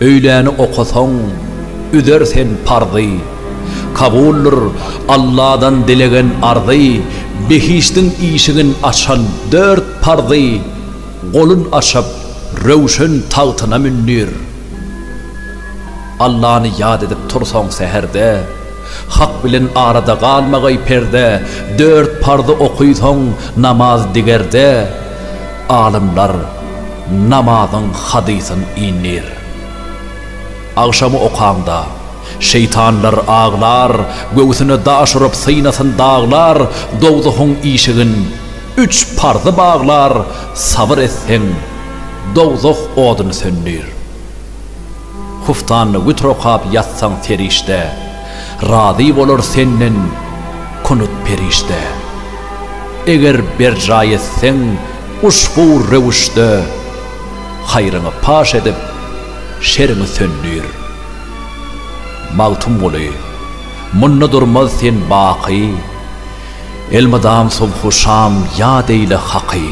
Öýläni okasaň, üzer sen parzy. Kabuldyr Alladan dilegen arzy, Behişdiň işigin açan dört parzy, Golun açyp, Röwşen tagtyna mündir. Allany ýat edip tursaň säherde, Hak bilen arada galmagaý perde, Dört parzy oky soň namaz digerde. Alymlar namazyň hadysyn indir. Agşamy okaňda, şeýtanlar aglar, Göwsüne daş urup synasyn daglar, Dowzahyň işigin üç parzy baglar, Sabyr etseň, dowzah odun söndir. Huftanly witr okap ýatsaň serişde, Razy bolar senden kunut perişde. Eger berjaý etseň uşbu röwüşde, Haýryňy paş edip, şeriňi söndür. Magtymguly, munda durmaz sen baky, Elmydam subhu şam ýat eýle Haky.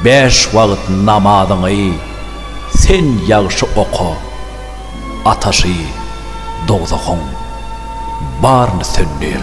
Bäş wagt namazyňy. Sen ýagşy oka, ataşy dowzahyň baryny söndür.